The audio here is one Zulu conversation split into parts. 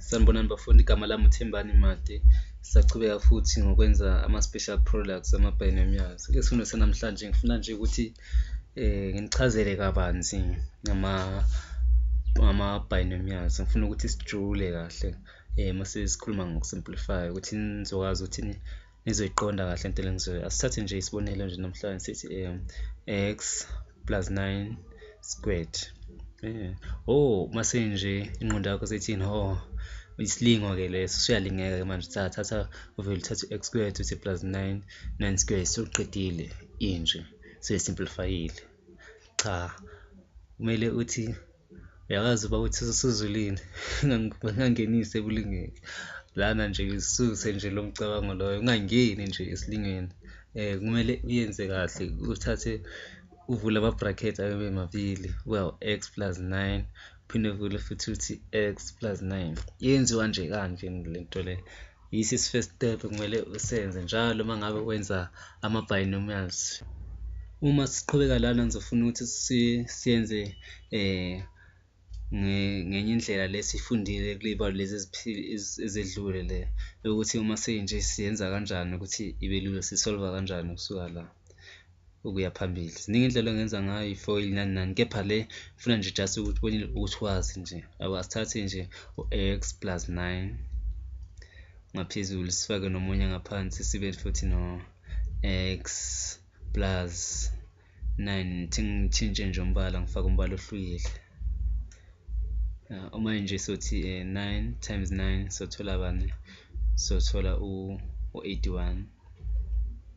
Sanibonani bafundi, igama lami uThembani Made. Sisaqhubeka futhi ngokwenza ama-special products ama-binomials. Isifundo sanamhlanje ngifuna nje ukuthi um nginichazele kabanzi ngama-binomials, ngifuna ukuthi sijule kahle um mase sikhuluma ngoku-simplify-a ukuthi nizokwazi ukuthi . nizoyiqonda kahle into elengizoyo asithathe nje isibonelo nje namhlanje sithi um x plus 9 squared um oh mase nje ingqondo yakho sethini ho oh, isilingo ke leso siyalingeka ke manje thatha thatha uvele uthathe x squared uthi plus 9 9 squared soqedile inje seyisimplifyile cha kumele uthi Uyakwazi uba uthi usuzulile ungangenisi ebulingweni lana nje ususe nje lo mcabango loyo ungangeni nje esilingweni um kumele uyenze kahle uthathe uvule ama-bracket ayobe mabili uyawu-x plus nine uphinde uvule futhi uthi x plus nine yenziwa nje kanje le nto le. Yisi isifirst step kumele usenze njalo uma ngabe wenza ama-binomials. Uma siqhubeka lana ngizofuna ukuthi siyenze um ngenye indlela le siyifundile kuley'balo lezi ezedlule le yokuthi uma seyinje siyenza kanjani ukuthi ibe lula sisolva kanjani kusuka la. ukuya phambili ziningi indlela ongenza ngayo ifoil nani nani kepha le funa nje just ukuthi ubone ukuthi wazi nje abo asithathe nje u-x plus 9 ngaphezulu sifake nomunye ngaphansi sibe futhi no x plus 9 ngithintshe nje umbala ngifake umbala ohlukile uh, uma nje sothi uh, eh, 9 times 9 sothola bani sothola u-81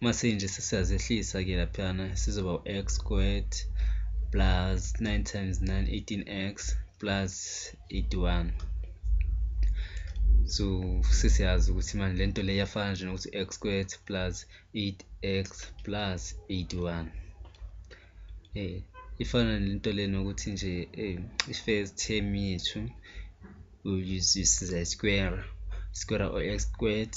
mase nje sesiyazehlisa ke laphana sizoba u-x squared plus 9 times 9 18x plus 81 so sesiyazi ukuthi manje lento le yafana nje nokuthi x squared plus 8x plus 81 eh ifana nento le nokuthi nje eh i-first term yethu will use this square square or x squared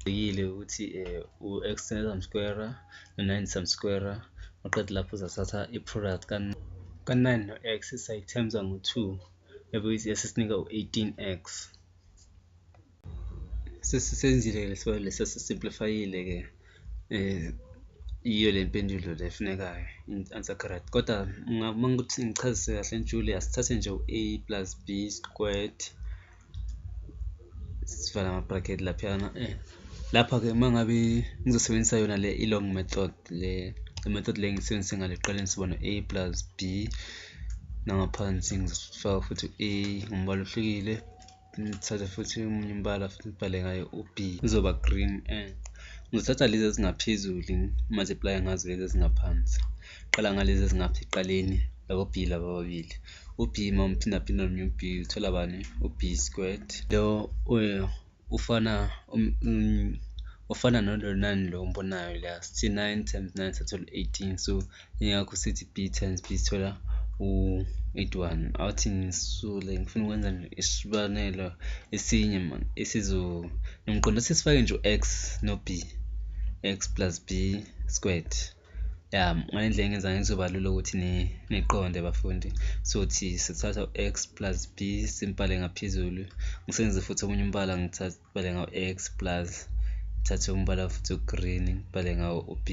Ngiyile ukuthi eh, u-extend some square no-nine some square uqede lapho uzathatha i-product ka-9 no-x sayithemza ngo-2 ebe yasisinika u-18x sesisenzile ke lesibalo lesi sesisimplifayile ke eh iyo le mpendulo le efunekayo i-answer correct kodwa uma ukuthi ngichazise kahle njule asithathe nje u-a plus b squared sivala ama-bracket laphana eh lapha-ke uma ngabe ngizosebenzisa yona le i-long method le i-method le ngisebenzise ngale ekuqaleni sibona a plus b nangaphansi ngizofaka futhi a ngombala ohlukile ngithathe futhi omunye umbala futhi ngibhale ngayo u-b kuzoba green and ngizothatha lezi ezingaphezulu multiply ngazo lezi ezingaphansi qala ngalezi ezingapha ekuqaleni labo b laba ababili u-b uma umphindaphinda nomnye u-b uthola bani u-b squared lo ufana um, um, ufana nolonani lo ombonayo la sithi 9 times 9 sathola 18 so ingakho sithi b times b sithola u-81 awuthi ngisule ngifuna ukwenza isibanelo esinye mani esizo nomqondo sesifake nje u-x no-b x plus b squared ya ngale ndlela engenza ngizoba lula ukuthi niqonde bafundi sothi sithatha u-x plus b simbhale ngaphezulu ngisebenzise futhi omunye umbala ngibhale ngawo-x plus ngithathe umbala futhi ugreen ngibhale ngawo u-b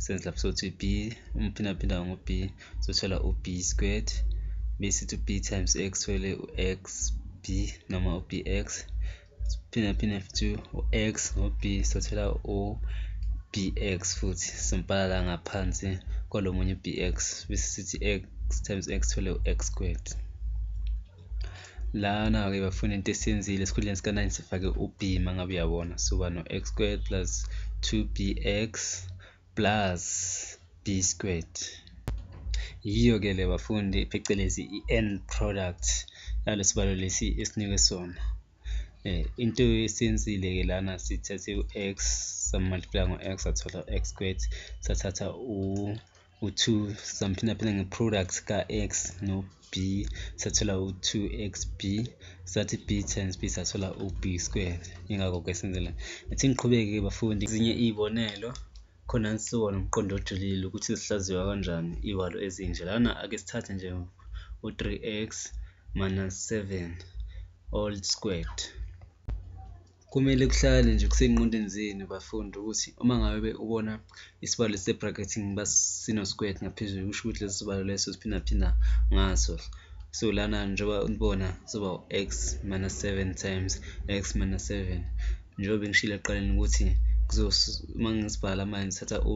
senze lapho sothi b umphindaphinda ngo-b sothola u-b squared besithi u-b times x thole u-x b noma u-bx phinde phinde futhi u-x no-b sothola u-bx futhi simbhala la ngaphansi kwalo munye u-bx bese sithi x times x thole u-x squared lana-ke bafuna into esiyenzile esikhundleni sika-9 sifake u-b uma ngabe uyabona soba no-x squared plus 2bx plus b squared yiyo ke le bafundi phecelezi i-end product yalo sibalo lesi esinikwe sona eh into esenzile ke lana sithathe u-x samultiply ngo-x sathola u-x squared sathatha u u-2 samphindaphinda nge-product ka-x no b sathola u-2xb sathi b times b sathola u-b squared ingakho-ke senzela ethi ngiqhubeke-ke bafundi ezinye iy'bonelo khona nisuka nomqondo ojulile ukuthi zihlaziywa kanjani iy'walo ezinje lana ake sithathe nje u-3x minus 7 all squared Kumele kuhlale nje kusey'ngqondweni zenu bafundi ukuthi uma ngabe ubona isibalo esise-bracketing uba sino-squared ngaphezulu kusho ukuthi leso sibalo leso siphindaphinda ngaso. So lana njengoba ulibona soba u-x minus seven times x minus seven njengoba bengishilo ekuqaleni ukuthi uma ngisibhala manje ngithatha u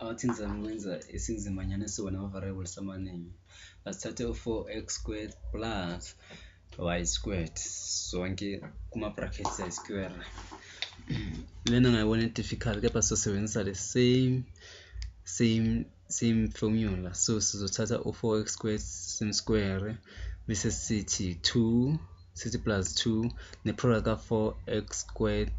Awuthi ngizama ukwenza isinzimanyana esizoba nama-variables amaningi. Asithathe u-four x squared plus y squared zonke kuma-brackets ayi-square. Lena ngayibona i-difficult kepha sizosebenzisa the same same same formula. So sizothatha u-four x squared simsquare bese sithi two sithi plus two ne-product ka-four x squared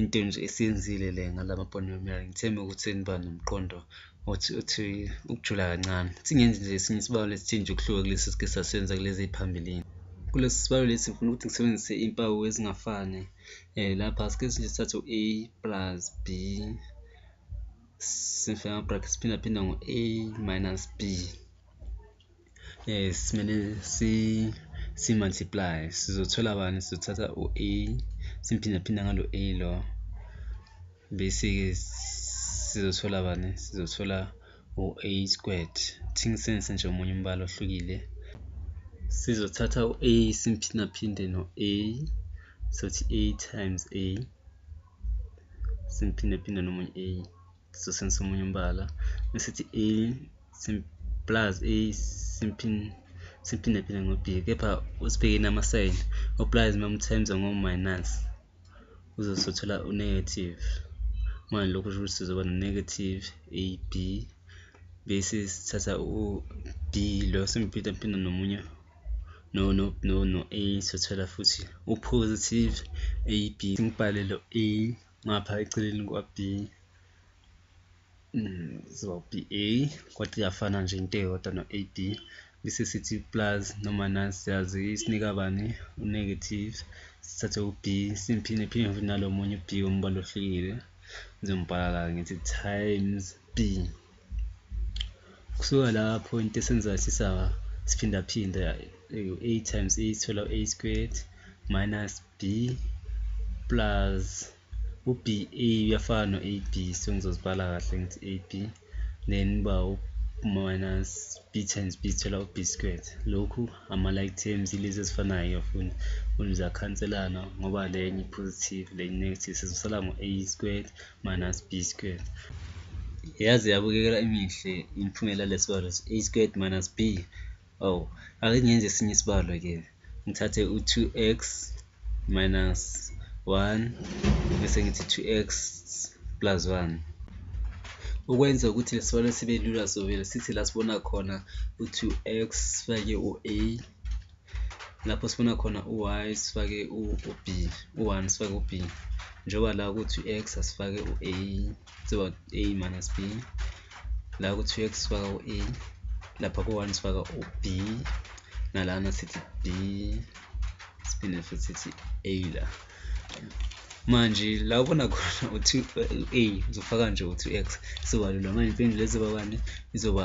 into nje esiyenzile le ngalama polynomial ngithembe ukuthi seniba nomqondo othi othi ukujula kancane singenzi nje esinye isibalo lesithe nje ukuhluka kulesi sike sasenza kulezi ey'phambilini kulesi sibalo lesi ngifuna ukuthi ngisebenzise impawu ezingafani um lapha sike nje sithathe u-a plus b sifake ama-bracket siphindaphinda ngo-a minus b eh simele si si multiply sizothola bani sizothatha u a simphinde phinde ngalo a lo bese ke sizothola bani sizothola u a squared thing sense nje omunye umbala ohlukile sizothatha u a simphinde phinde no a sothi a times a simphinde phinde nomunye a sisosini somunye umbala mesithi a plus a simphindaphinde ngo-b kepha usibhekeni amasayini o-plus uma umthemza ngo-minus uzosothola u-negative manje lokhu kusho ukuthi sizoba no-negative a b bese sithatha u-b lo simphindaphinde nomunye no no no no a sothola futhi u-positive a b ngibhale lo a ngapha eceleni kwa B mm, ziba B A kodwa iyafana nje into eyodwa no A B bese sithi plus noma nasi siyazi isinika bani u-negative sithathe u-b simphinde phinde futhi nalo munye u-b wombala ohlukile ngizombhala la ngithi times B. Kusuka lapho into esenzayo sisa siphindaphinda u-a times a sithola u-a squared minus b plus u-b a uyafana no-a b so ngizozibhala kahle ngithi a b then uba minus b times b sithola u-b squared lokhu ama-like terms ilezi ezifanayo yafuni ziyakhaniselana ngoba lenye i-positive lenye i-negative sizosala ngo-a squared minus b squared yaze yabukekela imihle imiphumela yalesibalo a squared minus b oh ake ngenze esinye isibalo ke ngithathe u-2x minus 1 bese ngithi 2x plus 1 ukwenza ukuthi lesibalo sibe lula sovele sithi la sibona khona u-2x sifake u-a lapho sifuna khona u-y sifake u-b u-one sifake u-b njengoba la ukuthi u-x asifake u-a siba a minus b la ukuthi u-x sifaka u-a lapha ku-one sifaka u-b nalana sithi b siphinde futhi sithi a la manje la ubona khona uthi u-a uzofaka nje uthi u-x siwalula manje impendulo ezoba bani izoba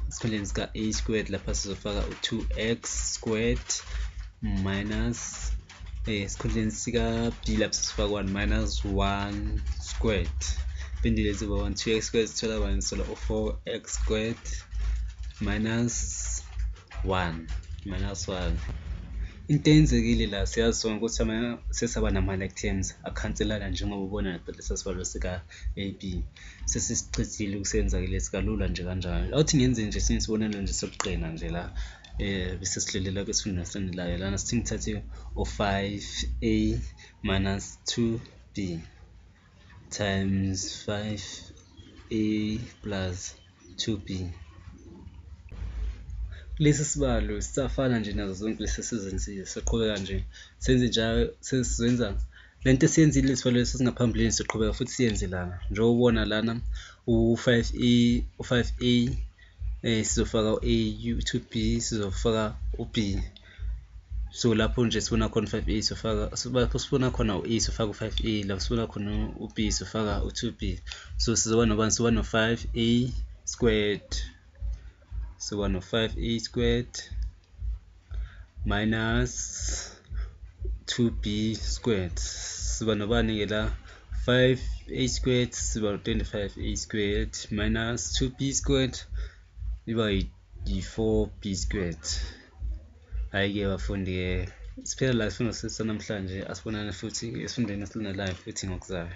esikhundleni sika-a squared lapha sizofaka u-two x squared minus eh, esikhundleni sika-b lapha sizofaka one minus one squared impendulo ezoba one two x squared sithola bani sola u-four x squared minus 1 minus 1 into eyenzekile la siyazi sonke ukuthi sesaba nama-lectams akhanselana njengoba ubona lesa sibalo sika-a b sesisichithile ukusenzakile sikalula nje kanjalo awuthi ngenze nje esinye isibonelo nje sokuqina nje la eh bese silelela kwesifundo esilandelayo lana sithi ngithathe u-5a minus 2b times 5a plus 2B. Lesi sibalo sisafana nje nazo zonke lesi esizenzile, siqhubeka nje senze njalo sesizenza le nto esiyenzile isibalo lesi singaphambilini siqhubeka futhi siyenze lana njengoba ubona lana u-5A u-5A um eh, sizofaka u-A, u-2B sizofaka u-B. so lapho nje sifuna khona u-five a sofaka lapho sifuna khona u-e sofaka u-five a lapho sifuna khona u-b sofaka u-two b so sizoba nobani soba no-five a squared soba no-five a squared minus 2b squared siba nobani-ke la 5a squared siba 25a squared minus 2b squared iba yi-4b squared hhayi-ke bafundi-ke siphela la isifundo sethu sanamhlanje asibonane futhi esifundweni esilandelayo futhi ngokuzayo